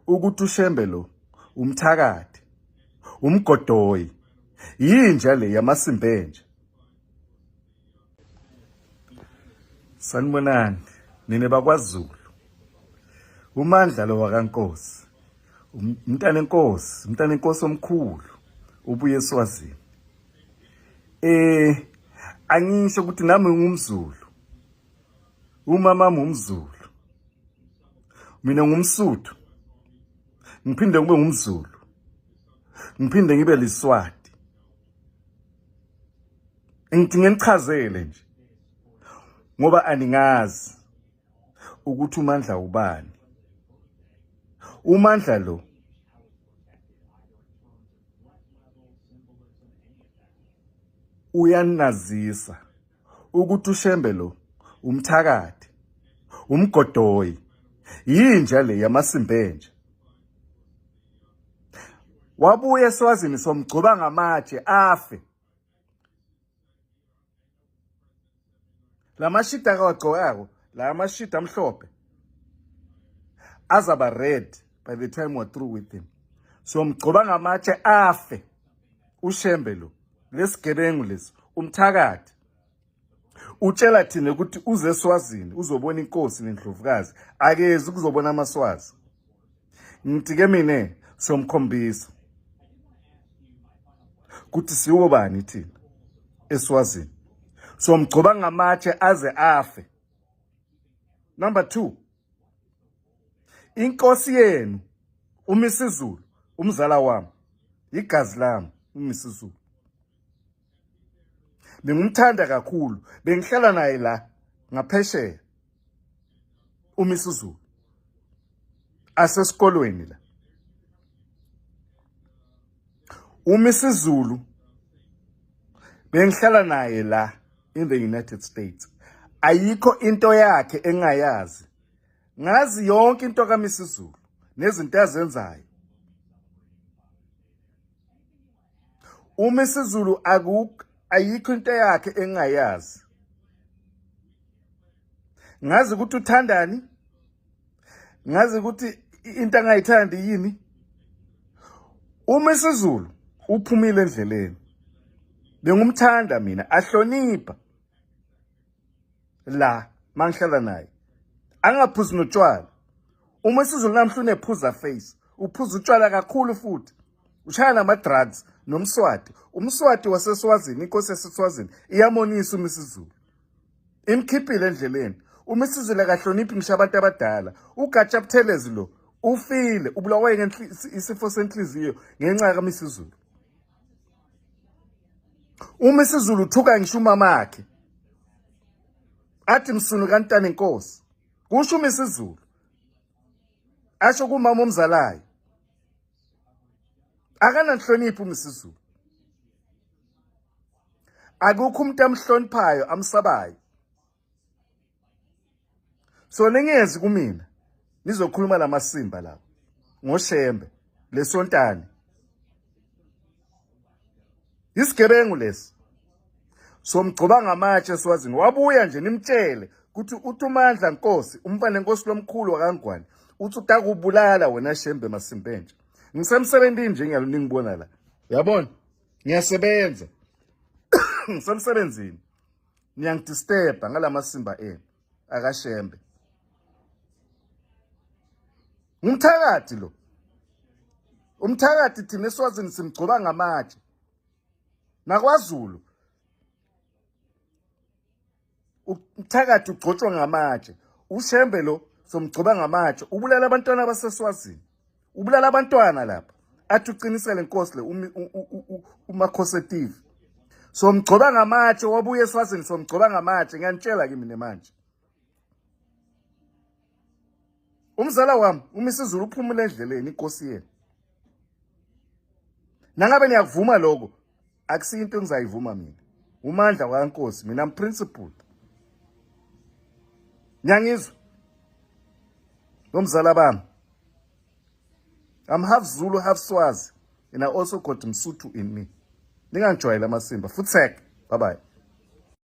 ukuthi uShembe lo umthakathi umgodoyi yinja le yamasimbenje sanibonani nine bakwaZulu umandla lo wakankosi umntana enkosi umntana enkosi omkhulu ubuye eswazini eh angisho ukuthi nami ngumzulu Umama ngumzulu. Mina ngumsuthu. Ngiphinde kube ngumzulu. Ngiphinde ngibe liswati. Ngithi ngenichazele nje. Ngoba aningazi ukuthi uMandla ubani. UMandla lo uyanazisa ukuthi ushembe lo umthakathi umgodoyi yinja le yamasimbenje wabuye eswazini somgcoba ngamatshe afe lamashida akawagcokako la amashida amhlophe azaba red by the time we're through with him so mgcoba ngamatshe afe ushembe lo lesigebengu lesi umthakathi utshela thina ukuthi uze eswazini uzobona inkosi nendlovukazi akezi kuzobona amaswazi ngithi ke mina somkhombisa ukuthi siwo bani thina eswazini somgcoba ngamatshe aze afe number 2 inkosi yenu umisizulu umzala wami igazi lami umisizulu bengumthanda kakhulu bengihlala naye la ngaphesheya umisizulu asesikolweni la umisizulu bengihlala naye la in the United States ayikho into yakhe engayazi ngazi yonke into kaMisizulu nezinto azenzayo uMisizulu akukho ayikho into yakhe engayazi ngazi ukuthi uthandani ngazi ukuthi into angayithandi yini uma isizulu uphumile endleleni bengumthanda mina ahlonipha la mangihlala naye angaphuzi notshwala uma isizulu namhla unephuza face uphuza utshwala kakhulu futhi ushaya nama-drugs nomswati umswati waseswazini inkosi yaseswazini iyamonisa uma isizulu imkhiphile endleleni uma isizile kahloniphi ngisho abantu abadala ugatsha buthelezi lo ufile ubulawe isifo senhliziyo ngenxa kamisizulu uma isizulu uthuka ngisho umama wakhe athi msunu kantana inkosi kusho uma isizulu asho kumama omzalayo akananhloniphi umsizulu akukho umuntu amhloniphayo amsabayo so ningenzi kumina nizokhuluma lamasimba lawo ngoshembe lesontane isigebengu lesi somgcoba ngamatshe swazini wabuya nje nimtshele ukuthi uthi umandla nkosi umfana enkosi lomkhulu wakangwane uthi utakubulala wena shembe masimpentsha ngisemsebenzini nje ngiyalo ningibona la yabona ngiyasebenza ngisemsebenzini niyangidisturba ngalamasimba enu akashembe ngumthakathi lo umthakathi thina eswazini simgcoba ngamatshe nakwazulu umthakathi ugcotshwa ngamatshe ushembe lo somgcoba ngamatshe ubulala abantwana baseswazini ubulala abantwana lapha athi uqinisele nkosi le umakhose TV somgcoba ngamatshe wabuye eswazini somgcoba ngamatshe ngiyanitshela kimi nemanje umzala wami umisizulu uphumule endleleni inkosi yenu nangabe niyakuvuma lokho akusiyo into engizayivuma mina umandla wakankosi mina am principled nyangizwe nomzala bami i'm half zulu half swazi and i also got msuthu in me ningangijwayela amasimba futsek bye bye